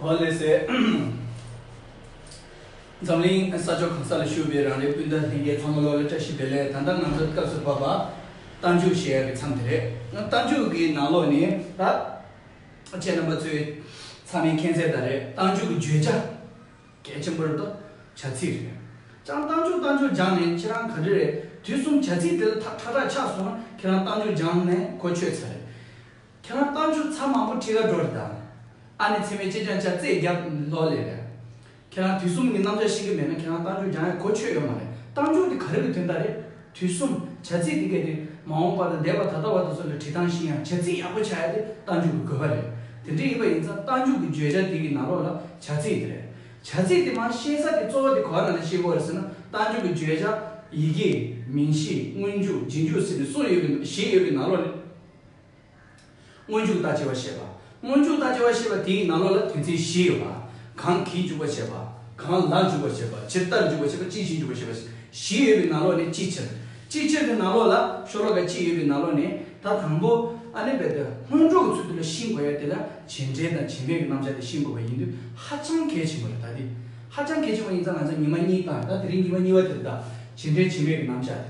ཧོ་ལེ་སི། འཛམ་གླིང་ས་ཕྱོགས་གང་ས་ལ་བཞུགས་པའི་རང་རེའི་སྤུན་ཟླ་ལྷན་རྒྱས་ཚང་མ་བློ་ལ་བཀྲ་ཤིས་བདེ་ལེགས་ད་ལྟ་ང་ཚོའི་སྐབས་སུ་བབས་པ་རྟ་མཇུག་ཞེས་ཡ་གི་མཚམས་དེ་རེད། རྟ་མཇུག་གི་ནང་ལོགས་ནི་ད་ཆའི་རྣམ་པ་ཚོའི་ཚང་མའི་མཁྱེན་གསལ་ལྟར་རེད་རྟ་མཇུག་གི་བརྗོད་བྱ། གལ་ཆེན་པོ་རེད་དོ། བྱ་ཚིག་རེད། ཅང་རྟ་མཆོག་རྟ་མཆོག་སྦྱངས་ནས་ཁྱེད་རང་ག་འདྲི་རེད་དུས་གསུམ་བྱ་ཚིག་དེ་ལ་ཐག་ཁྲ་ཁྲ་ཆགས་སོང་ན་ཁྱེད་རང་རྟ་མཆོག་སྦྱངས་ནས་གོ་ཆོད་ཚར་རེད། ཁྱེད་རང་རྟ་མཆོག་ཚ་མང་པོ་ཁྲི་ཁ་འགྲོ་རེད་ད། ཨ་ནེ་ཚེ་མའི་ལྕེ་སྦྱངས་བྱ་རྩེད་རྒྱབ་ལོག་ལས་རེད། ཁྱེད་རང་དུས་གསུམ་གྱི་གནམ་ལྕགས་ཤི་གི་མེད་ན་ཁྱེད་རང་རྟ་མཆོག་སྦྱངས་ཡ་གོ་ཆོད་ཡོད་མ་རེད་རྟ་མཆོག་དེ་ག་རེ་གི་དོན་དག་རེད། དུས་གསུམ། བྱ་ཚིག་འདི་གལ་ཏེ་མ་འོངས་པ་དང་འདས་པ་ད་ལྟ་བར་དུ་སོགས་ལ་བྲིས་ཐང་ཤིང་ཡང་བྱ་ཚིག་ཡག་པོ་ཆགས་ཡ་དེ་རྟ་མཇུག་གི་དགོས་པ་རེད། དེ་འདྲ་ཡིན་པ་ཡིན་ཙང་རྟ་མཇུག་གི་བརྗོད་བྱ་དེ་གི་ནང་ལོགས་ལ་བྱ་ཚིག་དེ་རེད། བྱ་ཚིག་དེ་མང་ཤེས་ས་དེ་གཙོ་བོ་དེ་གོ་བ་ནང་ལ་ཤེས་དགོས་རེད་ཟེར་ན་རྟ་མཇུག་གི་བརྗོད་བྱ། ཡི་གེ། མིང་གཞི། སྔོན་འཇུག། རྗེས་འཇུག་ཟེར་ནས་གསུམ་ཡོད་གི་བཞི་ཡོད་གི་ནང་ལོགས་ནས། སྔོན་འཇུག་ལྟ་ཅི་བ་ཞེས་པ། སྔོན་འཇུག་ལྟ་ཅི་བ་ཞེས་པ་དེའི་ནང་ལོགས་ལ་དོན་ཚན་བཞི་ཡོད་པ། གང་གིས་འཇུག་པར་བྱེད་པ། གང་ལ་འཇུག་པར་བྱེད་པ། ཇི་ལྟར་འཇུག་པར་བྱེད་པ། ཅིའི་ཕྱིར་འཇུག་པར་བྱེད་པ། བཞི་ཡོད་པའི་ནང་ལོགས་ནས་ཅིའི་ཕྱིར། ཅིའི་ཕྱིར་གྱི་ནང་ལོགས་ལ་ཤོ་ལོ་ཀ་གཅིག་ཡོད་པའི་ནང་ལོགས་ནས་ད་དང་པོ། ཨ་ནི་བས་ཏེ་སྔོན་འཇུག་གི་ཚུལ་དེ་ལ་ཤིན་དགོས་ཡ་དེ་ལ་བྱེད་འབྲེལ་དང་བྱེད་མེད་ཀྱི་རྣམ་བཞག་དེ་ཤིན་དགོས་པ་ཡིན་དུས་ཧ་ཅང་གལ་ཆེན་པོ་རེད་ད་དེ་ཧ་ཅང་གལ་ཆེན་པོ་ཡིན་ཙང་ང་ཚོས་ཉི་མ་གཉིས་དང་ད་དེ་རིང་ཉི་མ་གཉིས་བ་དེ་ལ་བྱེད་འབྲེལ་བྱེད་མེད་ཀྱི་རྣམ་བཞག་དེ་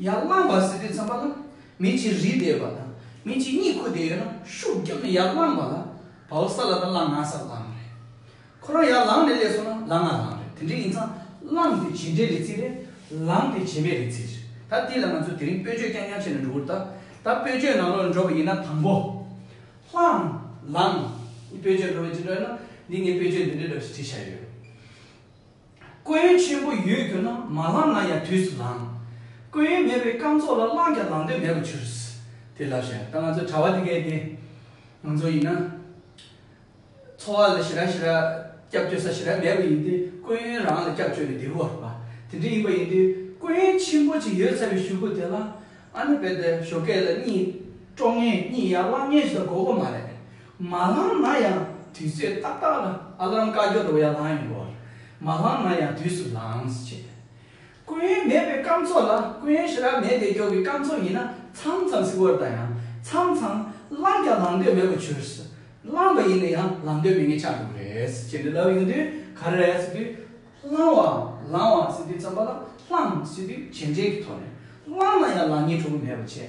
ཡར་བླངས་བ་ཟེར་བའི་མཚན་པ་ལ་མི་གཅིག་རི་བསྡད་པ་དང་མི་གཅིག་གཉིད་ཁུག་བསྡད་ཡོད་ན་ཤུགས་རྒྱབ་ནས་ཡར་བླངས་བ་ལ་བའོ་ས་ལ་དང་ལ་ང་ས་བླངས་རེད། ཁོ་རང་ཡར་ལངས་ནས་སླེབས་སོང་ན་ལ་ང་ལངས་རེད་དེ་འདྲས་ཡིན་ཙང་བླངས་དེ་བྱེད་འབྲས་རེད་ཚིག་རེད་ལངས་དེ་བྱེད་མེད་རེད་ཚིག་རེད་ད་དེ་ལ་ང་ཚོ་དེ་རིང་སྤོས་ཆོས་རྐྱང་རྐྱང་བྱས་ནས་འགྲོ་འུར་ད་ད་སྤོས་ཆོས་ནང་ལོགས་ལ་འགྲོ་བ་ཡིན་ན་དང་པོ། བླངས། ལངས། སྤོས་ཆོས་འགྲོ་བ་ཅི་འདྲ་ཡོད་ན་འདི་ངས་སྤོས་ཆོས་འདི་འདྲས་འདྲ་བྱས་བྱས་ཡོད། སྐུ་ཡོན་ཆེན་པོ་ཡོད་གྱུར་ན་མ་བླངས་ན་ཡང་དུས་སུ་ལངས། སྐུ་ཡོན་མེད་པའི་སྐམ་ཚོགས་ལ་བླངས་ཀྱང་ལངས་དོན་མེད་པར་གྱུར། དེ་ལབ་བྱ་ད་ང་ཚོའི་གྲྭ་བ་འདི་གས་ཏེ། ང་ཚོ་ཡིན་ན། འཚོ་བ་ལ་ཞི་ར་ཞི་ར། སྐྱབས་བཅོལ་ས་ཞི་ར་མེད་པ་ཡིན་ཏེ་སྐུ་ཡོན་རང་ལ་སྐྱབས་བཅོལ་བའི་འདེའུ་བར་པ་དེ་འདྲ་ཡིན་པ་ཡིན་དུས་སྐུ་ཡོན་ཆེན་པོ་ཅིག་ཡོད་ཚར་བའི་ཞུ་སྐུ་དེ་ལ། ཨ་ནེ་བེ་ཏའི་ཞོ་སྐད་ལ་གཉིད་དཀྲོག་ངེས་གཉིད་ཡར་བླངས་ངེས་ཞེས་དགོས་པ་མ་རེད། མ་བླངས་ན་ཡང་དུས་ཚོད་ཏག་ཏག་ལ་ཨ་ལམ་བཀའ་འགྱུར་རོ་ཡ་ལང་ཡིན་དགོས་བར་མ་བླངས་ན་ཡང་དུས་སུ་ལངས་ཞེས་དོན། སྐུ་ཡོན་མེད་པའི་སྐམ་ཚོགས་ལ་སྐུ་ཡོན་ཞེ་དྲག་མེད་དེ་སྐྱོ་གི་སྐམ་ཚོགས་ཡིན་ན་ཚང་ཚང་སིག་བོར་དང་ཡང་ཚང་ཚང་བླངས་ཀྱང་ལངས་འདོད་མེད་པ་བྱུར་སི་བླངས་པ་ཡིན་ན་ཡང་ལངས་འདོད་མེད་ངེས་ཆགས་འདུག་རེད་ཅེས་འདི་ལབ་ཡོང་དུས་ག་རེ་རེད་ཟེར་དུས། བླངས་བ་ལངས་བ་ཟེར་དུས་བརྩམས་པ་ལ་བླངས་ཟེར་དུས་ཇེ་འདྲེས་ཀྱི་ཐོག་ནས་བླངས་ན་ཡང་ལངས་ཉེས་འཕྲོ་གི་མེད་པ་བྱས།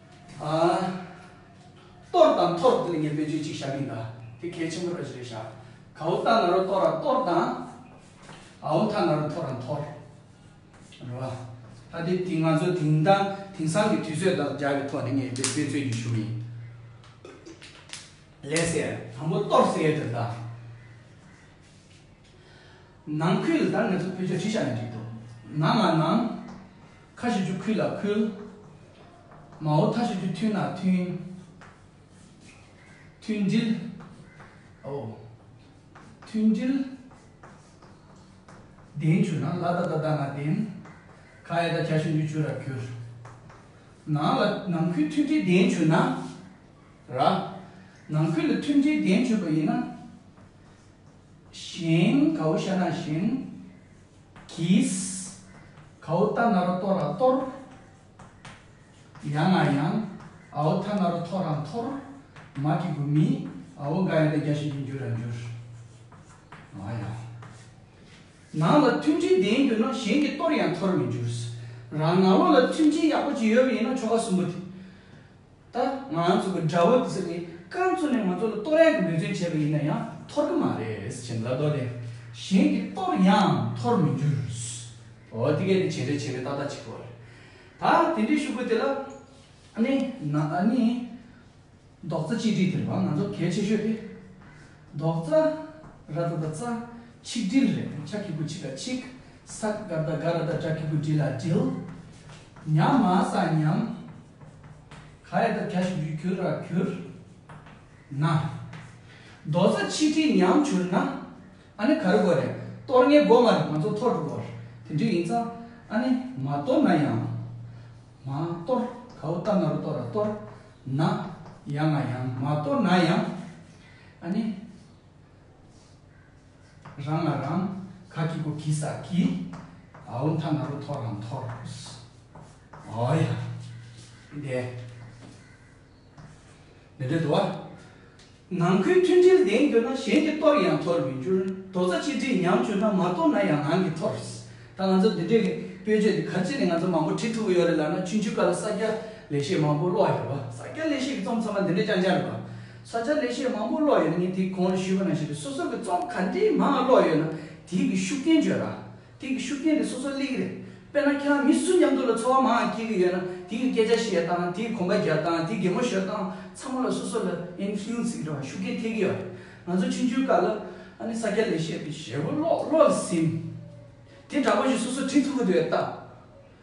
གཏོར་དང་འཐོར་དེ་ལ་ངས་བེད་སྤྱོད་ཅིག་བྱ་གིན་གདའ། དེ་གལ་ཆེན་པོ་རེད་ཅེས་རེད་བྱ། གའུ་རྟ་ང་རོ་གཏོར་ར་གཏོར་དང། ཨའུ་ཐ་ང་རོ་འཐོར་ར་འཐོར། རེད་བ། ད་དེ་དེ་ང་ཚོ་དེང་དང་དེང་སང་གི་དུས་ཚོད་དང་སྦྱར་བའི་ཐོག་ནས་ངས་བེད་སྤྱོད་རྒྱུ་ཞུ་གི་ཡིན། ལས་ཟེར། དང་པོ་གཏོར་ཟེར་ཡོད་དོ་གདའ། ནང་ཁུལ་ལ་དར་ངེས་ཚོ་སྤུས་ཚད་བྲིས་བཞག་ནས་འགྲིག་འདུག་ནང་ང་ནང། ཁ་ཞུ་རྒྱུ་ཁུལ་ལ་ཁུལ། མ་འོ་ཐ་ཞུ་རྒྱུ་མཐུན་ལ་མཐུན། མཐུན་སྒྲིལ། འོ། མཐུན་སྒྲིལ། བདེན་ཆུ་ན་བླ་ད་ད་ད་ང་བདེན། ཁ་ཡ་ད་ཁྱ་ཞུ་འཇུ་ཆུ་ར་གུར། ནང་ལ་ནང་ཁུལ་མཐུན་སྒྲིལ་བདེན་ཆུ་ན། ར། ནང་ཁུལ་ལ་མཐུན་སྒྲིལ་བདེན་ཆུ་པ་ཡིན་ན། ཞིང། གའུ་ཤ་ནག་ཞིང། གིས། གའུ་རྟ་ནཱ་རོ་ཏོ་ར་གཏོར། ཡང་ང་ཡང། ཨའོ་ཐ་ནཱ་རོ་ཐོ་ར་འཐོར། མ་གི་གུ་མི། ཨའོ་ག་ཡང་ད་རྒྱ་ཞིང་གི་འགྱུར་ར་འགྱུར། མ་ཡང། ནང་ལ་མཐུན་སྒྲིལ་ལྡན་གྱུར་ན་གཞན་གྱི་གཏོར་ཡང་འཐོར་མི་འགྱུར། རང་ནང་ལོགས་ལ་མཐུན་སྒྲིལ་ཡག་པོ་ཅིག་ཡོད་པ་ཡིན་ན་ཆོ་ག་གསུམ་པོ་དེ། ད་ང་ཚོ་གི་དགྲ་བོ་དེ་ཚོ་ནི་སྐར་མཚོ་ནས་ང་ཚོ་ལ་གཏོར་གཡང་གི་འབོད་བརྩོན་བྱས་པ་ཡིན་ན་ཡང་འཐོར་གི་མ་རེད་ཅེས་ལབ་ལོ་ལས་གཞན་གྱི་གཏོར་གཡང་འཐོར་མི་འགྱུར། འོ་དེ་གས་དེ་བྱས་རེད་བྱས་རེད་ཏག་ཏག་བྱེད་ཀི་བ་རེད། ད་དེ་འདྲའི་ཤུག་པོ་དེ་ལ་ནི་ན་ནི་རྡོག་རྩ་གཅིག་སྒྲིལ་དེ་རེད་བ་ང་ཚོར་གལ་ཆེ་ཤོས་དེ་རྡོག་རྩ་ར་རྡ་རྡ་རྩ་ཆིག་སྒྲིལ་རེད་ཆ་ཁི་ཁུ་ཆིག་ག་ཆིག་ས་ག་རྡ་ག་ར་རྡ་དྲ་ཁི་ཁུ་སྒྲིལ་ལ་སྒྲིལ། ཉམས་མ་ས་ཉམས། ག་ཡེ་དང་བརྒྱ་བྱིན་རྒྱུད་གྱུར་ར་གྱུར་ན། རྡོ་རྩ་ཆིག་ཁྲིའི་ཉམས་གྱུར་ན། ཨ་ནི་ག་རེ་དགོས་རེད། གཏོར་ངའི་སྒོ་ང་རེ་ང་ཚོ་འཐོར་དགོས། དེ་འདྲི་ཡིན་ཙང་ཨ་ནི་མ་གཏོར་ན་ཡང། མ་གཏོར་ག་འུ་རྟ་ང་རུ་གཏོར་ར་གཏོར་ན་ཡང་ང་ཡང། མ་གཏོར་ན་ཡང་ཨ་ནི། རང་ང་རང་ག་གི་གུ་གི་ས་གི། ཨ་འུ་མཐའ་ང་རུ་འཐོར་ར་འཐོར། ཨོ་ཡ། དེ། མི་འགྲིག་འདུག་ཨ། ནང་ཁུལ་མཐུན་སྒྲིལ་ལྡན་གྱུར་ན་གཞན་གྱི་གཏོར་ཡང་འཐོར་མི་འགྱུར་རྡོག་རྩ་གཅིག་སྒྲིལ་ཉམས་གྱུར་ན་མ་གཏོར་ན་ཡང་ནང་གི་འཐོར། ད་ང་ཚོ་འདི་འདྲའི་སྤོས་ཆས་འདི་ག་ཅི་ནས་ང་ཚོ་མང་པོ་ཁྲིད་ཐུབ་ཀྱི་ཡོད་རེད་ལབ་ན་ཆུན་ཆུན་དཀར་ལ་ས་སྐྱ་ལས་བཤད་མང་པོ་ཀློག་ཡོད་པ་ས་སྐྱ་ལས་བཤད་ཀྱི་རྩོམ་ཚང་མ་འདི་འདྲའི་ཅང་ཅང་རེད་པ། ས་སྐྱ་ལས་བཤད་མང་པོ་ཀློག་ཡོད་ན་ངས་དེ་གོང་ལ་ཞུས་པ་ནང་བཞིན་དུ་སོ་སོ་གྱི་རྩོམ་ག་འདྲིའི་མང་ཀློག་ཡོད་ན་དེའི་གི་ཤུགས་རྐྱེན་བརྗོད་ར། དེང་གི་ཤུགས་རྐྱེན་དེ་སོ་སོར་གླེང་གི་རེད། དཔེར་ན་ཁྱེད་རང་མི་སུ་མཉམ་དུ་ལ་འཚོ་བ་མང་ཡང་སྐྱེལ་གི་ཡོད་ན་དེ་ཡི་སྐད་ཆ་བཤད་སྟངས་དེ་ཡི་གོམ་པ་རྒྱག་སྟངས་དེ་གེ་མོ་བཞོ་སྟངས་ཚང་མ་ལ་སོ་སོ་ལ influence ཟིག་རེ་བ་ཤུགས་རྐྱེན་ཐེབས་གི་ཡོད་རེད། ང་ཚོ་ཕྱི་འཇུས་སྐབས་ལ་ཨ་ནི་ས་སྐྱ་ལས་བཤད་པའི་ཞལ་བོ་ཀློག་ཀློག་ཟིན། དེ་འདྲ་པོ་ཞིག་སོ་སོར་བྲིས་ཐུབ་ཀི་འདུག་ཨེ་ལྟ།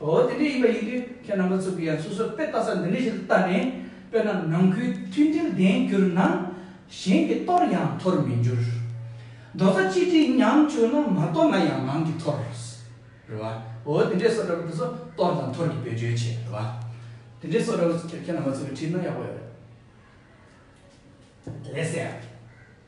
འོ་དེ་འདྲའི་ཡིན་པ་ཡིན་དུས་ཁྱེད་རྣམ་པ་ཚོ་གིས་ཡང་སོ་སོ་དཔེ་ལྟ་ས་འདི་འདྲའི་ཞིག་ཏུ་བལྟ་ནས་དཔེར་ན་ནང་ཁུལ་མཐུན་སྒྲིལ་ལྡན་གྱུར་ན། གཞན་གྱི་གཏོར་ཡང་འཐོར་མི་འགྱུར། རྡོ་རྩ་གཅིག་སྒྲིལ་ཉམས་བཅུག་ན་མ་གཏོར་ན་ཡང་ནང་གི་འཐོར། རེད་བ། འོ་དེ་འདྲའི་སོགས་འདྲ་པོ་དེ་ཚོ་གཏོར་དང་འཐོར་གྱི་བེད་སྤྱོད་བྱེད་རེད་བ། དེ་འདྲའི་སོགས་འདྲ་པོ་ཁྱེད་རྣམ་པ་ཚོ་གིས་བྲིས་ན་ཡག་པོ་ཡོད་རེད། ལས་སད་ཨ།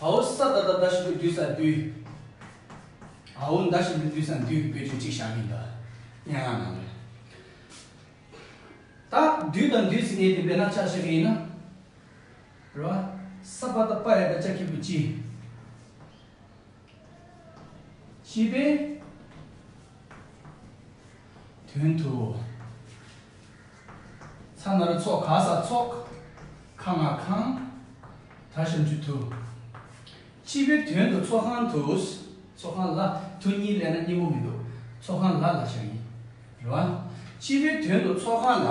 ཨའོ་ས་ད་ད་ད་ཞིག་པོ་འདུས་ས་འདུས། ཨའོ་འདའ་ཞིག་པོ་འདུས་ས་འདུས་པོད་ཆོད་ཅིག་བཞག་གིན་གདའ། སྙན་ངག་ནང་ལས། ད་འདུས་དང་འདུས་ཟེར་མཁན་དེ་བེ་ན་ཆགས་ཤག་གི་ཡིན་ན། རེད་བ། ས་པ་ད་པ་ཡ་ད་ཅག་གིས་པོ་ཅི། ཅི་པས། དོན་དུ། ཚ་ན་རུ་ཚོགས་གང་ཟག་ཚོགས། ཁ་ང་ཁང། དར་བཞོན་ཆུ་དུ། སྤྱི་བོའི་དོན་དུ་ཚོགས་ཁང་དུ། ཚོགས་ཁང་ལ་དུ་གཉིས་ལས་ན་སྙིང་པོ་མི་འདུག་ཚོགས་ཁང་ལ་ལ་བཞག་ཡིན་རུང། སྤྱི་བོའི་དོན་དུ་ཚོགས་ཁང་ལ།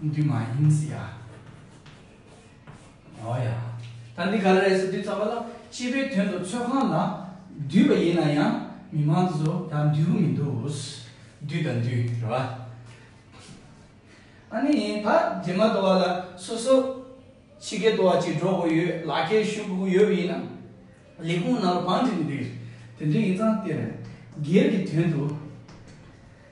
འདི་མ་ཡིན་ཟེར་ཡ། འོ་ཡ། ད་འདི་ག་ལ་རེད་ཟེར་དུས་ཚགས་པ་ལ་སྤྱི་པའི་དོན་དུ་ཚོད་ཁང་ལ་བསྡུས་པ་ཡིན་ན་ཡང་མི་མང་ཚོ་ད་འདུས་གི་མི་འདུག་བསྡུས་དང་འདུས་རེད་བ། ཨ་ནི་ད་དེ་མ་དོ་བ་ལ་སོ་སོ་ཕྱི་རྒྱལ་དུ་བ་ཅིག་འགྲོ་དགོས་ཡོད་ལག་ཁྱེར་བཞུགས་དགོས་ཡོད་པ་ཡིན་ན་ལས་ཁུངས་ནང་ལ་བང་བསྒྲིགས་འདུས་དེ་འདྲ་ཡིན་ཙང་དེར་སྒེར་གྱི་དོན་དུ།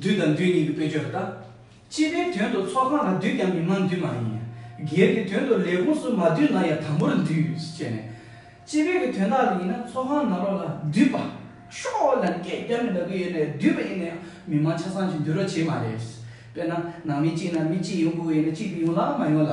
འདུས་དང་འདུས་གཉིས་ཀྱི་དཔེ་བརྗོད་པ་དང། སྤྱི་པའི་དོན་དུ་ཚོགས་ཁང་ལ་འདུས་ཀྱང་མི་མང་འདུས་མ་ཡིན། སྒེར་གྱི་དོན་དུ་ལས་ཁུངས་སུ་མ་འདུས་ན་ཡང་དམ་པོར་འདུས་ཅེས་ནས། སྤྱི་པའི་གི་དོན་དག་ལ་ཡིན་ན་ཚོགས་ཁང་ནང་རོགས་ལ་འདུས་པ། ཤོག་ལ་སྐད་བརྒྱབ་ནས་ལ་གུ་ཡོད་ནས་འདུས་པ་ཡིན་ན་ཡང་མི་མང་ཆ་ཚང་ཞིག་འདུས་རོགས་བྱེད་མ་རེད། དཔེར་ན་ནང་མི་གཅིག་ན་མི་གཅིག་ཡོང་དགོས་པ་ཡིན་ན་གཅིག་གིས་ཡོང་ལ་མ་ཡོང་ལ།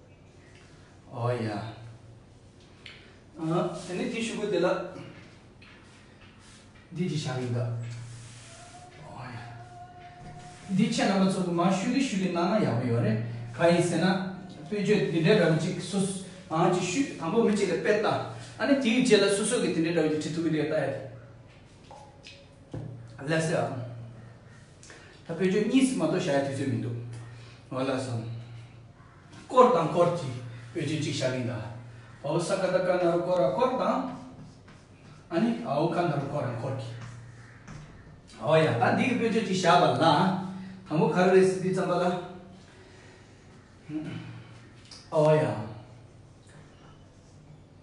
ཨོ་ཡ། ཨ། དེ་ནས་དེའི་ཤུག་གུ་དེ་ལ། འདི་ཅི་བྱ་རིགས་འདི། ཨོ་ཡ། འདི་ཁྱེད་རྣམ་པ་ཚོ་གི་མ་ཤུག་གི་ཤུག་གི་ནང་ན་ཡག་པོ་ཡོད་རེད། ག་ཡིན་ཟེར་ན། དཔེ་བརྗོད་འདི་འདྲའི་འདྲ་བོ་ཅིག་སུ། ཨང་ཅིག་ཤུག་དང་པོ་མི་གཅིག་ལ་དཔེ་བལྟ། ཨ་ནི་དེའི་རྗེས་ལ་སོ་སོ་གི་དེ་འདྲའི་འདྲ་བོ་ཅིག་བྲིས་འདུག་གི་འདི་ལྟ་ཡ། ལས་སྲིད་ཨང། ད་བོད་ཆོས་གཉིས་སུ་མ་གཏོགས་བྱ་ཡ་དུས་ཚོད་མི་འདུག་ང་ལ་སོང། བསྐོར་དང་བསྐོར་གྱིས་བོད་ཆོས་གཅིག་བྱ་གིན་གདའ། བའོ་ས་ཀ་ད་ཀ་ན་རུ་བསྐོར་ར་བསྐོར་དང། ཨ་ནི་ཨའོ་ཀ་ན་རུ་བསྐོར་ར་བསྐོར་གྱིས། ཨའོ་ཡ་ད་འདི་གི་བོད་ཆོས་གཅིག་བྱ་བ་ལ་དང་པོ་ག་རེ་རེད་སྲིད་དུས་བརྩམས་པ་ལ། ཨའོ་ཡ།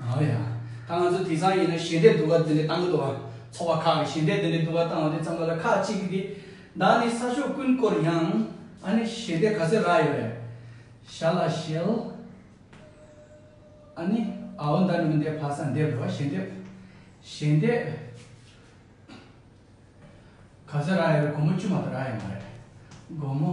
ཨོ་ཡ། ད་ང་ཚོ་དེང་སང་ཡིན་ན་ཞལ་འདེབས་བསྡུ་བ་འདི་འདྲའི་གཏང་གི་འདུག་བ། ཚོགས་པ་ཁག་གིས་ཞལ་འདེབས་འདི་འདྲའི་བསྡུ་བ་གཏང་བ་དེ་ཙམ་ལ་ལ་ཁག་གཅིག་གིས་དེ། བདག་ནི་ས་ཕྱོགས་ཀུན་བསྐོར་ཡང། ཨ་ནི་ཞལ་འདེབས་ག་ཚོད་རག་ཡོད་རེད། ཞར་ལ་ཞལ། ཨ་ནི། ཨའོ་མདའ་ནི་མི་འདེབས་ཕ་ས་འདེབས་རེད་བ་ཞལ་འདེབས། ཞལ་འདེབས། ག་ཚོད་རག་ཡོད་རེད་སྒོར་མོ་བཅུ་མ་གཏོགས་རག་ཡོད་མ་རེད། སྒོར་མོ།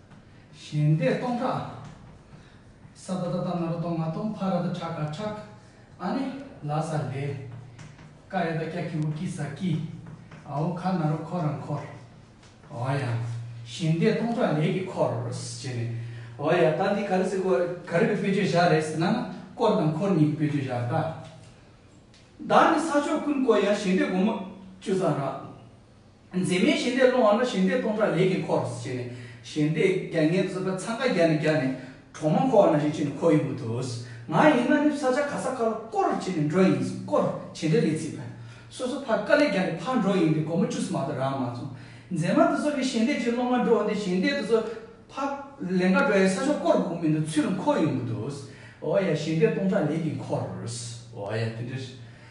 ཞལ་འདེབས་སྟོང་ཕྲག། སྭ་བྷ་ད་ཏཱ་ན་ར་ཏོ་ང་ཏོ་བྷ་ར་ད་ཕྲ་ཀ་ཕྲག། ཨ་ནི་ལ་ས་ལེ། ཀ་ཡ་ད་ཀྱ་ཀི་ཨུ་ཀི་ས་ཀི། ཨ་ཨོ་ཁ་ན་རོ་ཁོ་རང་འཁོར། ཨོ་ཡ། ཞལ་འདེབས་སྟོང་ཕྲག་ལས་ཀྱི་འཁོར། བྱས་ནས། ཨོ་ཡ་ད་འདི་ག་རེ་ཟེར་གོ། ག་རེ་གི་དཔེ་བརྗོད་བྱ་རེད་ཟེར་ན་ན། བསྐོར་དང་འཁོར་གཉིས་ཀྱི་དཔེ་བརྗོད་བྱ་རེད་ད། ད་ནི་ས་ཕྱོགས་ཀུན་བསྐོར་ཡང་ཞལ་འདེབས་སྒོ་མོ་བཅུ་ཙམ་རག། མཛེས་མའི་ཞལ་འདེབས་སློང་བ་ལ་ཞལ་འདེབས་སྟོང་ཕྲག་ལས་ཀྱི་འཁོར་བྱས་ནས་ཞལ་འདེབས་བརྒྱ་ངན་བཙུན་པ་འཚང་ཁ་བརྒྱ་ནས་བརྒྱ་ནས་གྲོག་མ་འཁོར་བ་ན་ཞིག་བྱས་ནས་འཁོར་ཡོང་གི་འདུག་ང་ཡིན་ན་ནི་ས་ཆ་ག་ས་ག་ལ་བསྐོར་བྱས་ནས་འགྲོ་ཡིན་སྐོར་བྱས་འདྲ་ལས་ཚིག་ཕན་སོ་སོ་ཕ་དཀའ་ལས་རྒྱ་ནས་ཕར་འགྲོ་ཡིན་འདི་སྒོར་མོ་བཅུ་གསུམ་མ་གཏོགས་རག་མ་སོང་མཛེས་མ་འདི་ཚོ་གི་ཞལ་འདེབས་ཅིག་སློང་མ་འགྲོ་འོང་འདི་ཞལ་འདེབས་འདི་ཚོ་ཕ་ལན་འགའ་འགྲོ་ཡ་ས་ཕྱོགས་བསྐོར་དགོས་ཀྱི་མི་འདུག་ཚུལ་འཁོར་ཡོང་གི་འདུག་འོ་ཡ་ཞལ་འདེབས་སྟོང་ཕྲག་ལས་ཀྱི་འཁོར་འོ་ཡ་དེ་འདྲ།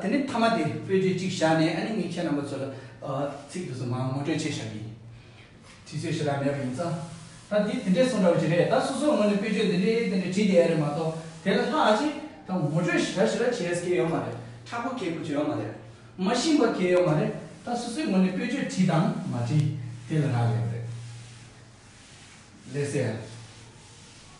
དེ་ནས་མཐའ་མ་དེ་དཔེ་བརྗོད་གཅིག་བཞག་ནས་ཨ་ནི་ངས་ཁྱེད་རྣམ་པ་ཚོ་ལ་ཚིག་དུ་སོ་མང་ངོ་སྤྲོད་བྱས་བཞག་གི་ཡིན། དུས་ཚོད་ཞེ་དྲག་མེད་པ་ཡིན་ཙང། ད་འདི་དེ་འདྲས་སོང་འདྲ་བ་ཅི་རེད་ད་སོ་སོའི་ངོས་ནས་དཔེ་བརྗོད་འདི་འདྲས་དེ་འདྲས་བྲིས་བསྡད་ཡ་རེད་མ་གཏོགས་དེ་ལ་ལྷག་ཅིག་ད་ངོ་སྤྲོད་ཞེ་དྲག་ཞེ་དྲག་བྱེད་ཡས་ཀྱི་ཡོད་མ་རེད་ཁྲ་ཁོ་ཁེ་ཁོ་བྱེད་ཡོད་མ་རེད། མ་ཤིང་བ་གས་ཡོད་མ་རེད་ད་སོ་སོའི་ངོས་ནས་དཔེ་བརྗོད་བྲིས་དང་མ་བྲིས་དེ་ལ་རག་ལས་པ་རེད། ལས་སད་ཡ།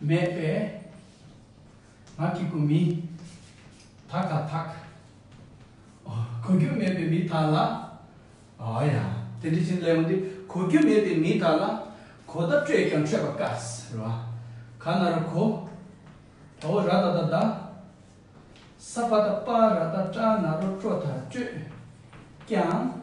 མེད་པས་ང་གི་གུ་མི་དག་དང་དག། གོ་རྒྱུ་མེད་པའི་མི་དག་ལ། ཨོ་ཡ། དེ་འདྲི་ཕྱིན་ལེའུ་འདི་གོ་རྒྱུ་མེད་པའི་མི་དག་ལ། གོ་བརྡ་སྤྲོད་ཀྱང་འཕྲོད་པ་དཀའ། ཟེར་བ་ག་ན་རུ་གོ། ད་ཨོ་ར་ད་ད་ད། ས་པ་ད་པ་ར་ད་ཀྲ་ན་རོ་ཀྲོ་ད་སྤྲོད་ཀྱང།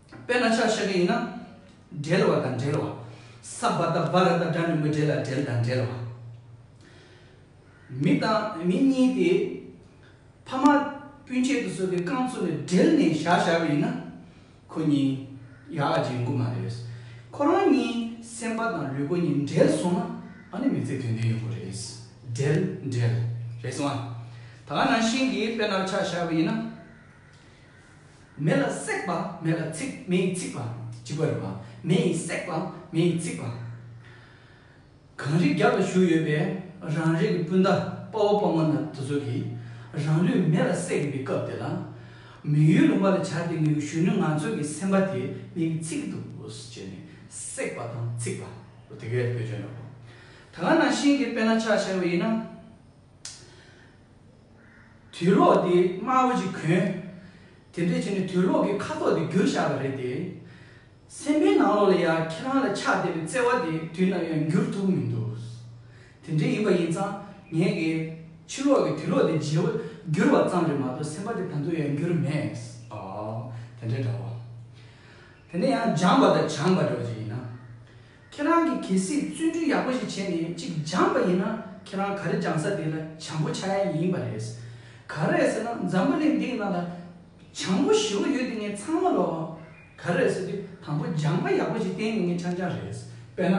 དཔེར་ན་ཆ་བཤད་རྒྱུ་ཡིན་ན། འབྲེལ་བ་དང་འབྲེལ་བ། ས་བ་ད་བ་ར་ད་སྒྲ་མི་མི་འབྲེལ་ལ་འབྲེལ་དང་འབྲེལ་བ། མི་དང་མི་གཉིས་ཏེ། ཕ་མ་སྤུན་མཆེད་དུ་སོགས་ཀྱི་རྐང་ཚུགས་ནས་སྦྲེལ་ནས་བཞག་བཞག་པ་ཡིན་ན། ཁོ་གཉིས་ཡག་ལ་འཇིགས་མགོ་མ་རེད། ཁོ་རང་གཉིས་སེམས་པ་དང་ལུས་པོ་གཉིས་འབྲེལ་སོང་ན་ཨ་ནི་མི་ཚེ་དོན་ལྡན་ཡོང་གི་རེད། སྦྲེལ་འབྲེལ། རེད་སོང་ཨ། ད་ག་ནང་བཞིན་གྱི་དཔེར་ན་ཆ་བཞག་པ་ཡིན་ན། མེ་ལ་བསྲེགས་པ་མེ་ལ་ཚིག་མེ་ཡིས་ཚིག་པ་སྤྱི་བོ་རེད་པ་མེ་ཡིས་བསྲེགས་པ་མེ་ཡིས་ཚིག་པ། གངས་རི་རྒྱབ་ལ་བཞུགས་ཡོད་པའི་རང་རེ་གི་སྤུན་ཟླ་དཔའ་བོ་དཔའ་མོ་དེ་ཚོ་གིས་རང་ལུས་མེ་ལ་བསྲེགས་ཡོད་པའི་སྐབས་དེ་ལ། མི་ཡུལ་ལུང་པ་ལ་བྱ་དེ་ངའི་གཞོན་ནུ་ང་ཚོ་གི་སེམས་པ་དེ་མེ་ཡིས་ཚིག་གི་འདུག་ཅེས་ནས་བསྲེགས་པ་དང་ཚིག་པ་རུ་དེ་གའི་བོད་ཆོས་འདྲ་བོ། ད་ག་ནང་བཞིན་གྱི་དཔེ་ན་ཆ་ཕྱེ་བ་ཡིན་ན། དུས་ལོག་དེ་སྨྲ་བོ་ཅིག་གོན། དེ་འདྲས་བྱས་ནས་དུས་ལོག་གི་ཁ་དོག་དེ་བསྒྱུར་བཞག་པ་རེད་དེ། སེམས་པའི་ནང་ལོགས་ལ་ཡང་ཁྱེད་རང་ལ་ཆགས་བསྡད་པའི་བརྩེ་བ་དེ་དུས་ནམ་ཡང་འགྱུར་ཐུབ་མི་འདུག། དེ་འདྲས་ཡིན་པ་ཡིན་ཙང་ངེད་ཀྱི་ཕྱི་ལོགས་ཀྱི་དུས་ལོག་དེ་བརྗེ་བ་བསྒྱུར་བ་ཙམ་རེད་མ་གཏོགས་སེམས་པ་དེ་ད་དུང་ཡང་འགྱུར་མེད། ཨོ། དེ་འདྲས་འདྲ་བོ། དེ་འདྲས་ཡང་སྦྱངས་པ་དང་སྦྱངས་པ་འདྲ་བོ་ཅིག་ཡིན་ན། ཁྱེད་རང་གིས་གལ་སྲིད་བརྩོན་འགྲུས་ཡག་པོ་ཞིག་བྱས་ནས་གཅིག་སྦྱངས་པ་ཡིན་ན་ཁྱེད་རང་ག་རེ་སྦྱངས་ས་དེ་ལ་བྱང་བུ་ཆགས་ཡ་ཡིན་པ་རེད། ག་རེ་ཟེར་ན་འཛམ་བུ་གླིང་འདི་ཡི་ནང་ལ་བྱང་བུ་བཞི་བོ་ཡོད་དེ་ངས་ཚང་མ་ལོ། ག་རེ་ཟེར་དུས་དང་པོ་སྦྱངས་པ་ཡག་པོ་ཞིག་བསྟན་ནས་ངས་ཆང་ཆང་རེད། དཔེར་ན།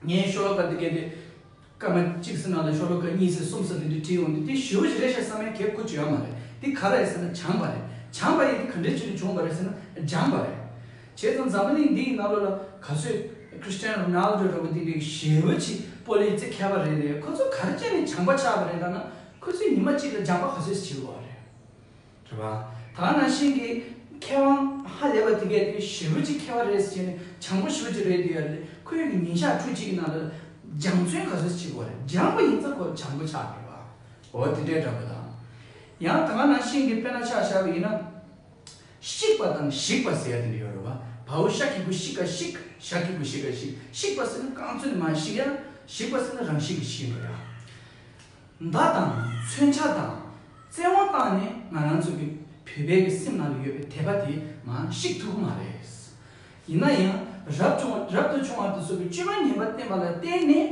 ངས་ཤོ་ལོ་ཀ་འདི་བཀལ་ཏེ། སྐར་མ་གཅིག་སེར་ནང་དང་ཤོ་ལོ་ཀ་གཉིས་སེར་གསུམ་སོགས་འདི་འདྲའི་བྲིས་ཡོང་དུས་འདི་ཞི་བ་ཞིག་རེད་བཤད་ས་མན་གས་ཁུ་བྱུ་ཡ་མ་རེད་འདི་ག་རེད་ཟེར་ན་བྱང་པ་རེད་བྱང་པ་ཡིན་འདི་ག་འདྲའི་ཆེད་དུ་བྱུང་བ་རེད་ཟེར་ན་ལྗང་པ་རེད། བྱས་ཙང་འཛམ་བུ་གླིང་འདི་ཡི་ནང་ལོ་ལ་ག་ཚོད Christian Ronaldo རོ་པོ་ཏི་འདྲའི་ཞི་བ་ཆིག་པོ་ལས་ཙི་གས་པ་རེད་ལས་ཁོ་ཚོ་ག་རེ་ཅན་ནས་བྱང་པ་ཆགས་པ་རེད་ལབ་ན་ཁོ་ཚོའི་ཉི་མ་གཅིག་ལ་ལྗང་པ་ག་ཚོད་ཞིག་བྱེད་དགོས་བ་རེད། དྲི་བ། ད་ནང་བཞིན་གྱི་མཁས་དབང་ཧ་ལས་པ་དེ་གས་ཁོས་ཞི་བུ་གཅིག་མཁས་བ་རེད་ཟེར་གྱི་ནས་བྱང་བུ་ཞི་བུ་གཅིག་རེད་འདོད་ཡ་རེད་ཁོས་གི་ཉིན་ཞག་ཁྲུ་གཅིག་གི་ནང་ལ་སྦྱང་བརྩོན་ག་ཚོད་བྱེད་དགོས་རེད་སྦྱངས་པ་ཡིན་ཚ་ཁོ་བྱང་བུ་ཆགས་ཡོད་པ་འོ་དེ་འདྲའི་འདྲ་པོ་དང། ཡང་ད་ནང་བཞིན་གྱི་དཔེ་ན་ཆགས་བཞག་པ་ཡིན་ན། བཤིག་པ་དང་བཞིག་པ་ཟེར་ཡ་དེ་འདྲ་ཡོད་རེད་བ་བའུ་ཤ་ཁི་བུ་བཤིག་ག་བཤིག་ཤ་ཁི་བུ་བཤིག་ག་བཤིག་བཤིག་པ་ཟེར་ན་རྐང་ཚོད་ནས་མ་བཤིག་ཡ་བཤིག་པ་ཟེར་ན་རང་བཤིག་གི་བཤིག་འགྲོ་ཡ། མདའ་དང་མཚོན་ཆ་དང་བཙན་དབང་བཏང་ནས་ང་རང་ཚོ་གི་བོད་པའི་གི་སེམས་ནང་དུ་ཡོད་པའི་དད་པ་དེ་མ་བཤིག་ཐུབ་གི་མ་རེད། ཡིན་ན་ཡང་རབ་བྱུང་རབ་ཏུ་བྱུང་བར་དུ་ཚོ་གི་སྤྱོད་པ་ངན་པ་བསྟན་པ་ལ་བརྟེན་ནས་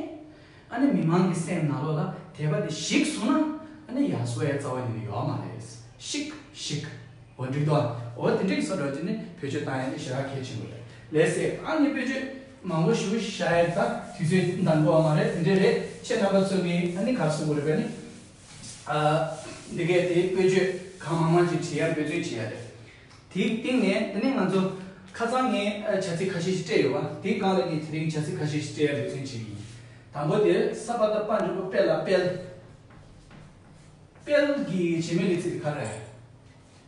ཨ་ནི་མི་མང་གི་སེམས་ནང་ལོག་ལ་དད་པ་དེ་བཤིག་སོང་ན་ཨ་ནི་ཡག་སོ་ཡ་རྩ་བ་ཉིད་ནས་ཡོག་མ་རེད། བཤིག་བཤིག། འོ་འགྲིག་འདུག་ཨ་འོ་དེ་འགྲིག་སོ་འགྲོ་རྒྱུ་ནི་བོད་ཆོས་བཏང་ཡ་ནི་ཞེ་དྲག་གལ་ཆེན་པོ་རེད་ལས་སེ་ཨ་ནི་བོད་ཆོས། མང་པོ་ཞུ་བྱ་ཡ་ད་དུས་ཚོད་འདང་དགོས་བ་མ་རེད་འདི་འདྲ་རེད་ཁྱེད་རྣམ་པ་ཚོ་གི་ཨ་ནི་ག་ཚོད་དགོས་རེད་པ་ནི། ཨ། འདི་སྐད་དེ་བཀོད་བརྗོད་གང་མང་མང་ཅིག་བྲིས་ཡ་འབོད་བརྩོད་བྱེད་ཡ་རེད། དེའི་སྟེང་ནས་ཨ་ནི་ང་ཚོ་ཁ་ཚང་ངས་བྱ་ཚིག་ཁ་ཤས་ཤིག་སྤྲད་ཡོད་པ་དེའི་སྒང་ལ་ངས་དེ་རིང་བྱ་ཚིག་ཁ་ཤས་ཤིག་སྤྲད་ཡ་འབོད་བརྩོན་བྱེད་ཀྱི་ཡིན། དང་པོ་དེར་ས་པ་ད་དཔའ་འབྲུག་པ་དཔལ་ལ་དཔལ། དཔལ་གྱི་བྱེད་མི་ལི་ཚིག་དེ་ག་རེད།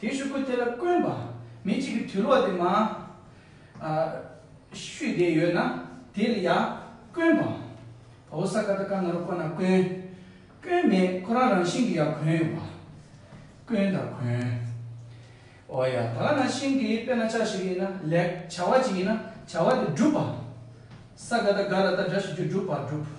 དེའི་ཤུགས་ཀུན་དེ་ལ་བསྐོན་པ། མི་གཅིག་གི་དུས་ལོག་དེ་མ། ཤུས་དེ་ཡོད་ན་དེ་ལ་ཡང་བསྐོན་པ། བོ་ས་ཀ་ད་ཀ་ན་རུ་ཀ་ན་བསྐོན། བསྐོན་མེད་ཁོ་རང་རང་བཞིན་གྱི་ཡང་གོན་ཡོད་པ། བསྐོན་དང་གོན། འོ་ཡ་ད་ལ་ན་ཤིང་གི་དཔེ་ན་ཆ་ཞིག་ཡིན་ན་ལེགས་བྱ་བ་ཅིག་ཡིན་ན་བྱ་བ་དེ་བསྒྲུབ་པ། ས་ཀ་ད་ཀ་ལ་ད་སྒྲ་ཞིག་རྒྱུ་བསྒྲུབ་པར་བསྒྲུབ།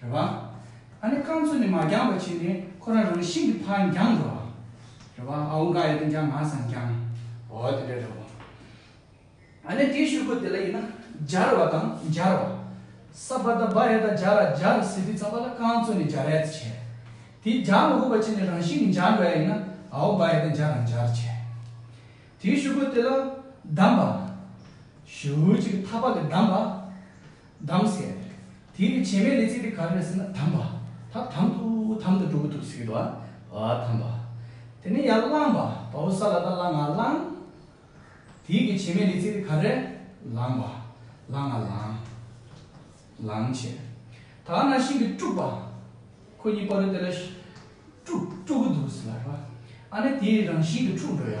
རེད་པ། ཨ་ནི་རྐང་མཚོ་ནས་མ་འགྱངས་པ་བྱས་ནས་ཁོ་རང་རང་ཤིང་གི་ཕར་འགྱངས་འགྲོ་བ། རེད་པ། ཨ་འུ་འགའ་ཡོད་དོན་ཀྱང་ང་སང་འགྱངས། འོ་དེ་འདྲ་རེད་བ། ཨ་ནི་དེའི་ཤོག་བུ་དེ་ལ་ཡིན་ན་སྦྱར་བ་དང་སྦྱར་བ། ས་བ་ད་བ་རེད་ད་སྦྱར་ར་སྦྱར་ར་ཟེར་དུས་ཚང་མ་ལ་རྐང་མཚོ་ནས་སྦྱར་རེད་བྱས། དེ་སྦྱར་མ་དགོས་པ་བྱས་ནས་རང་ཤིང་གི་འགྱངས་འགྲོ་ཡ་ཡིན་ན་ཨ་འུ་འགའ་ཡོད་ད་འགྱངས་ར་འགྱངས་བྱས། དེའི་ཤོག་བུ་དེ་ལ་བསྡམས་པ། ཞུ་བོད་ཅིག་གི་ཐག་པ་ལས་བསྡམས་པ། དམ་ཟེར། དེའི་ནི་བྱེ་མའི་ལས་ཚིག་དེ་ག་རེ་རེད་ཟེར་ན་དམ་པ། ད་དམ་དུ་དམ་དུ་འགྲོ་གི་འདུག་ཟེར་གི་འདུག་ཨ། ཨ་དམ་པ། དེ་ནས་ཡང་གླང་པ། བ་བོ་ས་ལ་ད་གླང་ང་གླང། དེའི་གི་བྱེ་མའི་ལས་ཚིག་དེ་ག་རེ་རེད། ལང་པ། གླང་ང་ལང། ལང་བྱེད། ད་ག་ན་ཤིང་གི་སྤྲུག་པ། ཁོ་གཉིས་པོ་རེད་དེ་ལ། སྤྲུག་སྤྲུག་གི་འདུག་ཟེར་ལ། ཨ་ནི་དེའི་རང་བཞིན་གྱི་འཁྲུག་འགྲོ་ཡ།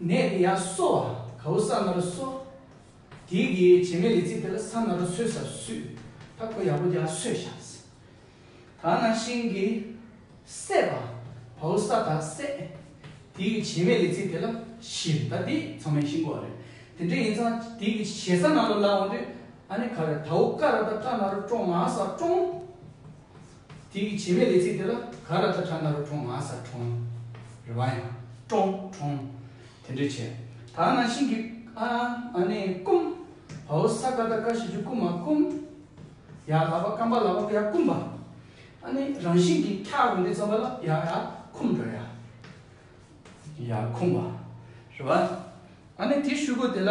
ནད་དེ་ཡང་གསོ་བ་གའུ་བསམ་ན་རུ་གསོ། དེའི་གི་བྱེ་མའི་ལི་ཙི་དེ་ལ་བསམ་ན་རུ་ཚོས་སར་བསུས་ད་ཁོ་ཡག་པོ་རྒྱག་ཚོས་བཞགས། ད་ན་ཤིང་གི། བསད་པ། བའུ་ས་དག་བསད། དེའི་གི་བྱེ་མའི་ལི་ཙི་དེ་ལ་བཞིར་ད་དེ་ཚང་མའི་ཤིང་གོ་རེད། དེ་འདྲ་ཡིན་ཚང་དེའི་གི་བྱེ་ས་ན་རུ་བླང་བ་དུས་ཨ་ནི་ག་རེ་དའུ་ཀ་ར་ད་ཀ་ན་རུ་ཀྲོང་ང་ས་ཀྲོང། དེ་ཡི་བྱེ་མའི་ལས་ཚིག་དེ་ལ་ག་ར་ཐ་ཁྲ་ན་རུ་ཁྲོང་ང་ས་ཁྲོང། རེ་བ་ཡང། ཀྲོང། ཁྲོང། དེ་འདྲས་བྱས། ད་ང་ཤིང་གི། ཨ། ཨ་ནེ་ཀུམ། བའོ་ས་ཀ་ད་ཀ་ཤི་ཇུ་ཀུ་མ་ཀུམ། ཡ་ལ་བ་ཀམ་པ་ལ་བ་ཀུ་ཡ་ཀུམ་པ། ཨ་ནེ་རང་བཞིན་གྱིས་ཁྱ་རུ་འདི་ཙམ་པ་ལ་ཡ་ཡ་ཁུམ་འགྲོ་ཡ། ཡ་ཁུམ་པ། རེ་བ། ཨ་ནེ་དེ་ཤུ་གུ་དེ་ལ།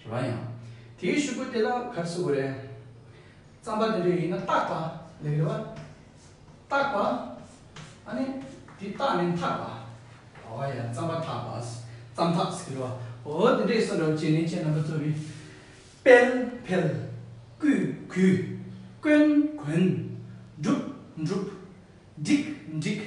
ཞེས་པ་ཡང། དེའི་ཤུབ་བུ་དེ་ལ་གར་བསུ་དགོས་རེད། རྩམ་པ་དེ་འདྲ་ཡིན་ན་བཏགས་པ་ལེགས་རེད་བ། བཏགས་པ། ཨ་ནི། དེ་བཏགས་ནས་འཐག་པ། ཨོ་ཡ་རྩམ་པ་འཐག་པ། རྩམ་འཐག་ཟེར་གི་རེད་བ། འོ་དེ་འདྲས་སོང་རེད་བ་བྱས་ནས་ཁྱེད་རྣམ་པ་ཚོ་གིས། དཔལ། འཕེལ། བརྐུས། གུས། བསྐོན། གོན། བསྒྲུབས། འགྲུབ། བསྒྲིགས། འགྲིགས།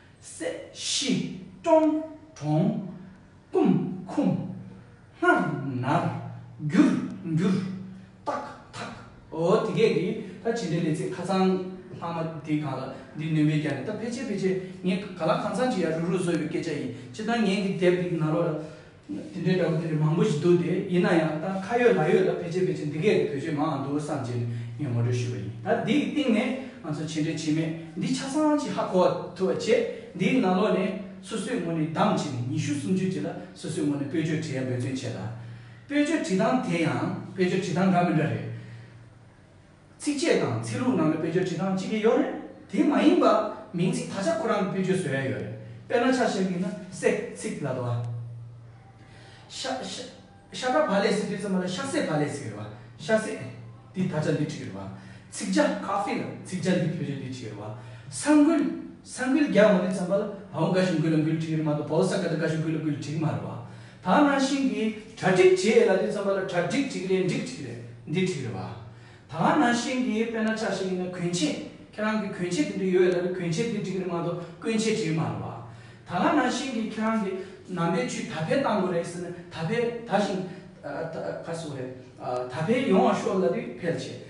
སྲས། ཤི། ཀྲོང། གྲོང། ཀུམ། ཁུམ། སྔར། ནར། འགྱུར། འགྱུར། རྟག། ཐག། འོ་དེ་གས་ཀྱི་ད་ཇི་འདྲའི་ལས་ཚིག་ཁ་ཚང་ལྷག་མ་དེ་གང་ལ་འདི་སྣོན་པའི་རྒྱ་ནས་ད་ཕལ་ཆེར་ཕལ་ཆེར་ངས་ག་ལ་གང་ཚང་ཅིག་ཡར་རུག་རུག་བཟོས་པའི་སྐད་ཆ་ཡིན་སྤྱི་ད་ངས་འདི་དེབ་འདི་ནང་ལོགས་ལ་དེ་འདྲའི་འདྲ་པོ་དེ་རིགས་མང་པོ་ཞིག་འདུག་སྟེ་ཡིན་ན་ཡང་ད་ཁ་ཡོད་ལག་ཡོད་ལ་ཕལ་ཆེར་ཕལ་ཆེར་འདི་གའི་རིགས་བོད་ཆས་མང་ཡང་འདུག་བསམ་བྱས་ནས་ངས་ངོ་སྤྲོད་ཞུས་པ་ཡིན། ད་འདིའི་སྟེང་ནས་ང་ཚོ་བྱས་འབྲས་བྱས་མེད་འདི་ཆ་ཚང་གཅིག་ཧ་གོ་བ་ཐུབ་པ་བྱས། འདིའི་ནང་ལོགས་ནས་སོ་སོའི་ངོས་ནས་བདམས་བྱས་ནས་ཉི་ཤུ་སུམ་ཅུ་རྗེས་ལ་སོ་སོའི་ངོས་ནས་སྤོས་ཆོས་བྲིས་ཡ་འབོད་བརྩོན་བྱས་ད། སྤོས་ཆོས་བྲིས་སྟངས་དེ་ཡང་སྤོས་ཆོས་བྲིས་སྟངས་འདྲ་མི་འདྲ་རེད། ཚིགས་བཅད་དང་ཚིག་ལྷུག་ནང་དུ་བེད་སྤྱོད་བྱེད་སྟངས་གཅིག་གི་ཡོད་རེད། དེ་མ་ཡིན་པར་མིང་ཚིག་ད་ཆ་ཁོ་རང་གི་བེད་སྤྱོད་བཟོས་ཡ་ཡོད་རེད། དཔེར་ན་ཆ་ཤས་ཀྱིས་ན་བསྲེག་ཚིག་ལ་དོ། ཤ་ཤ་ཀ་བ་ལས་སི་ཏི་ཙམ་པ་ལ་ཤ་སྲེག་བ་ལས་སི་རེད་བ། ཤ་སྲེག་འདི་ད་ཆ་འདི་ཁྲིག་རེད་བ། ཚིགས་བཅད་ཁ་ཕི་ལ་ཚིགས་བཅད་འདི་བེད་སྤྱོད་འདི་ཁྲིག་རེད་བ། ས་འགུལ་ས་འགུལ་རྒྱག་འོང་འདི་ཙམ་པ་ལ་ཨའོ་འགའ་ཞིག་འགུལ་ལ་འགུལ་ཁྲིག་རེད་མ་གཏོགས་བོད་ས་ཀ་ད་འགའ་ཞིག་འགུལ་ལ་འགུལ་ཁྲིག་མ་རེད་བ། ད་ནང་བཞིན་གྱི་གྲ་སྒྲིག་བྱེད་ཡས་ལ་འདི་ཙམ་པ་ལ་གྲ་སྒྲིག་འགྲིག་རེད་འགྲིག་འགྲིག་རེད་འདི་འགྲིག་རེད་བ། ད་ནང་བཞིན་གྱི་དཔེ་ན་ཆ་ཞིག་ཡིན་ན་གོན་ཆས་ཁྱེད་རང་གི་གོན་ཆས་འདི་འདི་ཡོད་ཡས་ལ་གོན་ཆས་འདི་འགྲིག་རེད་མ་གཏོགས་གོན་ཆས་འགྲིག་མ་རེད་བ། ད་ང་ནང་བཞིན་གྱི་ཁྱེད་རང་གི་ནང་པའི་ཆུ་ད་ཕེ་བཏང་དགོས་རེད་ཟེར་ན་ད་ཕེ་ད་བཞིན། ད་ཕེ་ཡོང་བ་ཤོག་ལ་འདི་ཕེལ་བྱེད།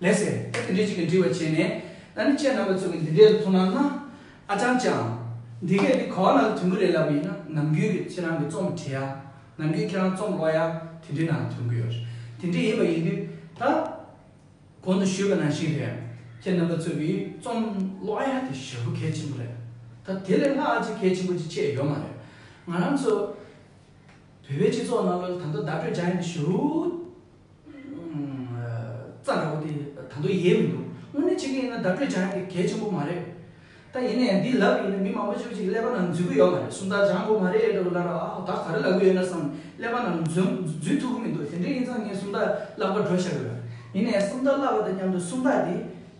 ལེགས་སེ། ཨེ་དེ་འདྲས་ཅིག་གིས་འདྲི་བར་བྱས་ནས། ད་ནི་ཁྱེད་རྣམ་པ་ཚོ་གིས་འདི་འདྲས་ལ་ཐུགས་སྣང་གནང། ཨ་ཅང་ཅང། འདི་གས་འདི་གོ་བ་ན་དོན་གུ་རེད་ལབ་པ་ཡིན་ན་ནམ་རྒྱུན་གྱི་ཁྱེད་རང་གི་རྩོམ་བྲི་ཡ། ནམ་རྒྱུན་ཁྱེད་རང་རྩོམ་ཀློག་ཡ་དེ་འདྲས་ན་དོན་གུ་ཡོད། དེ་འདྲས་ཡིན་པ་ཡིན་དུས་ད། གོང་དུ་ཞུས་པ་ནང་བཞིན་རེད། ཁྱེད་རྣམ་པ་ཚོ་གིས་རྩོམ་ཀློག་ཡ་དེ་ཞེ་པོ་གལ་ཆེན་པོ་རེད། ད་དེ་ལས་སླ་ཨ་ཅི་གལ་ཆེན་པོ་ཅིག་ཆད་ཡོད་མ་རེད། ང་རང་ཚོ། བོད་པའི་སྤྱི་ཚོགས་ནང་ལོ་ད་ལྟ་བརྡ་སྤྲོད་བྱ་ཡ་འདི་ཞུ། རྩ་འདྲ་བོ་དེ་ད་དུང་ཡལ་མི་འདུག་དངོས་གནས་ཆེ་གེ་ཡིན་ན་བརྡ་སྤྲོད་བྱ་ཡག་གི་གལ་ཆེན་པོ་མ་རེད། ད་ཡིན་ནའི་འདི་ལབ་ཡོད་ན་མི་མང་པོ་ཆོས་ཅིག་ཀླད་པ་ནང་འཛུལ་གི་ཡོད་མ་རེད་སུམ་རྟགས་སྦྱང་དགོས་མ་རེད་འདྲ་བོ་ལབ་ར་ཨ་ཧོ་ད་ག་རེ་ལབ་གི་ཡོད་ན་བསམ་ཀླད་པ་ནང་འཛུལ་ཐུབ་གི་མི་འདུག་དེ་འདྲའི་ཡིན་ཙང་ངས་སུམ་རྟགས་བཀླགས་པ་འགྲོ་བཞག་གི་རེད། ཡིན་ནའི་སུམ་རྟགས་བཀླགས་པ་དང་མཉམ་དུ་སུམ་རྟགས་དེ་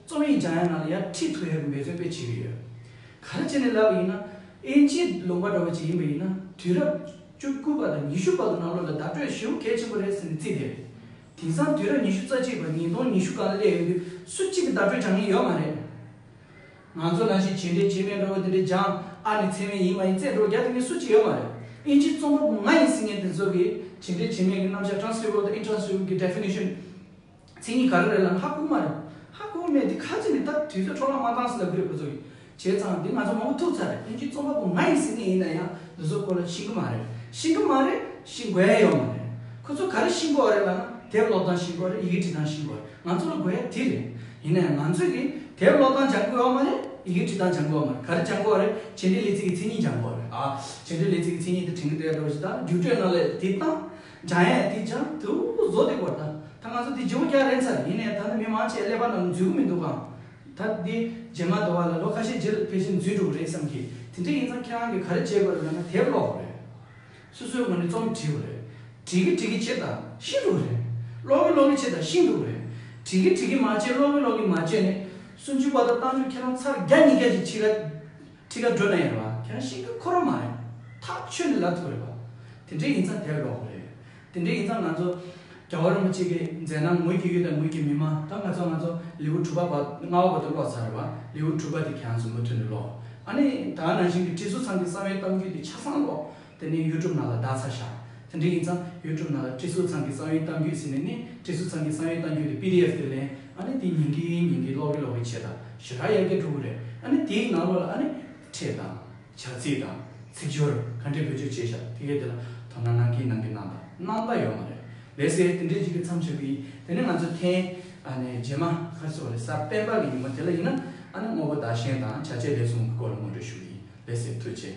རྩོམ་ཡིག་སྦྱང་ཡག་ནང་ལ་ཡར་ཁྲིད་ཐུབ་ཡག་གི་འབད་བརྩོན་དཔེ་བྱེད་ཀྱི་ཡོད། ག་རེ་བྱས་ནས་ལབ་པ་ཡིན་ན་ཨེ་འཇིགས་ལོང་པ་འདྲ་བོ་ཅིག་ཡིན་པ་ཡིན་ན་དུས་རབས་བཅུ་དགུ་པ་དང་ཉི་ཤུ་པ་དུ་ནག་ལོ་ལ་བརྡ་སྤྲོད་ཞེའུ་གལ་ཆེན་པོ་རེད་ཟེར་ནས་རྩིས་བསྡད་རེད། དེང་སང་དུས་རབས་ཉི་ཤུ་རྩ་གཅིག་པ་ཉིས་སྟོང་ཉི་ཤུ་གང་སླེབས་ཡོད་དུས་སུ་གཅིག་གི་བརྡ་སྤྲོད་དྲང་ངེས་ཡོད་མ་རེད། ང་ཚོ་ནང་བཞིན་བྱས་འདྲའི་བྱས་མེད་འགྲོ་བ་དེ་འདྲའི་འཇང་ཨ་ནི་ཚད་མེད་ཡིན་མ་ཡིན་རྩེད་འགྲོ་རྒྱག་ཐུབ་མཁན་སུ་གཅིག་ཡོད་མ་རེད། དབྱིན་ཇིའི་རྩོམ་པ་པོ་ང་ཡིན་ཟེར་མཁན་དེ་ཚོ་གིས་བྱས་འདྲའི་བྱས་མེད་ཀྱི་རྣམ་བཞག Transferable དང Intransferable གྱི Definition། མཚན་ཉིད་ག་རེ་རེད་ལ་ལྷ་སྐུ་མ་རེད། ལྷ་སྐུ་མེད་དེ་ག་ཅི་ནས་ད་དུས་ཚོད་འཕྲོ་བརླག་མ་གཏང་ཟེར་ལབ་ཀི་རེད་ཁོ་ཚོ་གིས་བྱས་ཙང་དེ་ང་ཚོ་མང་པོ་ཐུག་ཚར་རེད་དོན་གཅིག་རྩོམ་པ་པོ་ང་ཡིན་ཟེར་མཁན་ཡིན་ན་ཡང་འདི་ཚོ་སྐོར་ལ་ཤེས་ཀི་མ་རེད་ཤེས་ཀི་མ་རེད་ཤེས་དགོས་ཡ་ཡོད་མ་རེད་ཁོ་ཚོ་ག་རེ་ཤེས་དགོས་རེད་ལ་ན་དེབ་ཀློག་སྟངས་ཤེས་དགོས་རེད་ཡི་གེ་འབྲི་སྟངས་ཤེས་དགོས་རེད་ང་ཚོ་ལ་དགོས་ཡ་དེ་རེད་ཡིན་ན་ཡང་ང་ཚོས་ཀི་དེབ་ཀློག་སྟངས་སྦྱང་དགོས་ཡ་མ་རེད་ཡི་གེ་འབྲི་སྟངས་སྦྱང་དགོས་ཡ་མ་རེད་ག་རེ་སྦྱང་དགོས་རེད་བྱེད་འབྲེལ་ལས་ཚིག་གི་མཚན་ཉིད་སྦྱང་དགོས་རེད་ཨ་བྱེད་འབྲེལ་ལས་ཚིག་གི་མཚན་ཉིད་དེ་དྲན་གི་འདྲ་ཡ་འགྲོ་རེད་ཟེར་ད་བསྒྱུར་བཀྲོལ་གནང་ལེ་དེ་བཏང། འཇང་ཡས་དེ་འཇང་དུ་བཟོ་དེ་སྐོར་ད་ད་ང་ཚོ་དེ་རྗེ་བོ་སྐྱ་རེངས་ཚར་ཡིན་ནས་ད་ནི་མི་མང་ཆེད་ཀླད་པ་རྣམས་འཛུལ་གི་མི་འདུག་གམ། ད་འདི་རྗེ་མ་དོ་བ་ལ་ལོ་ཁ་ཤས་རྗེས་ལ་ཕལ་ཆེར་འཛུལ་འགྲོ་གི་རེད་བསམ་གི་དེ་འདྲ་ཡིན་ཙང་ཁྱེད་རང་གིས་ག་རེ་བྱེད་དགོས་རེད་ལབ་ན་དེར་ཀློག་གོ་རེད། སོ་སོའི་ངོས་ནས་རྩོམ་བྲིས་གོ་རེད། བྲིས་གི་བྲིས་གི་བྱེད་དང་ཤིན་ཏུ་རེད། ཀློག་གི་ཀློག་གི་བྱེད་དང་ཤིན་ཏུ་རེད། བྲིས་གི་བྲིས་གི་མ་བྱེད་ཀློག་གི་ཀློག་གི་མ་བྱེད་ནི། སུམ་ཅུ་པ་དང་བཏང་ཆུ་ཁྱེད་རང་ཚར་བརྒྱ་ཉིས་བརྒྱ་ཅིག་ཕྱི་ར། ཁྲི་ཀ་སྒྲོལ་མ་ཡིན་རེད་བ། ཁྱེད་རང་ཤིང་ཀ་ཁོ་རང་མ་རེད། ཐག་ཆོད་ནས་ལབ་ཐུབ་རེད་བ། དེ་འདྲས་ཡིན་ཙང་དེར་ལོག་གི་རེད། དེ་འདྲས་ཡིན་ཙང་ང་ཚོ་རྒྱ་བོད་རིན་པོ་ཆེ་གི་མཛད་ན་ངོས་ཀྱི་ཡུལ་དང་ངོས་ཀྱི་མི་མང་ད་ང་ཚོ་ང་ཚོ་ལེའུ་དྲུག་པ་ལྔ་བ་བར་དུ་ཀློག་ཚར་རེད་བ། ལེའུ་དྲུག་པ་དེ་ཁྱེད་རང་ཚོ་མུ་མཐུད་ནས་ཀློག། ཨ་ནི་ད་ནང་བཞིན་གྱི་ཁྲི་ཟུར་ཚང་གི་གསང་བའི་གཏམ་རྒྱུད་དེ་ཆ་ཚང་ཀློག། དེ་ནས་གཡུལ་གྲུབ་ནག་ལ་བདག་ཚར་བཞག་དེ་འདྲ་ཡིན་ཙང་གཡུལ་གྲུབ་ནག་ལ་ཀྲི་སུའུ་ཚང་གི་གསང་ཡུལ་གཏམ་རྒྱུད་ཟེར་ནས་ནི་ཀྲི་སུའུ་ཚང་གི་གསང་ཡུལ་གཏམ་རྒྱུད་དེ PDF དུ་ལེན་ཨ་ནི་དེ་ཉིན་གི་ཉིན་གི་ཀློག་གི་ཀློག་གི་བྱས་དང་ཞེ་དྲག་ཡར་རྒྱས་འགྲོ་གི་རེད་ཨ་ནི་དེའི་ནང་ལོགས་ལ་ཨ་ནི། ཕྲད་དང། བྱ་ཚིག་དང། ཚིག་སྦྱོར་ག་འདྲས་བེད་སྤྱོད་བྱས་བཞག་དེ་གས་དེ་ལ་དོ་སྣང་གནང་གིན་གནང་གིན་གནང་དང་གནང་ད་ཡོད་མ་རེད་ལས་ཟེར་དེ་འདྲས་ཅིག་གི་མཚམས་ཆགས་གི་ཡིན་དེ་ནི་ང་ཚོ་ཐེངས་ཨ་ནི་རྗེས་མ་ཁ་ཚུགས་ལས་སར་སྤེན་པ་གི་ཉིན་མོ་དེ་ལ་ཡིན་ན་ཨ་ནི་དངོས་པོ་བདག་གཞན་དང་བྱ་བྱེད་ལས་གསུམ་གི་སྐོར་ལ་ངོ་སྤྲོད་ཞུ་གི་ཡིན་ལས་ཟེར་ཐུགས་རྗེ།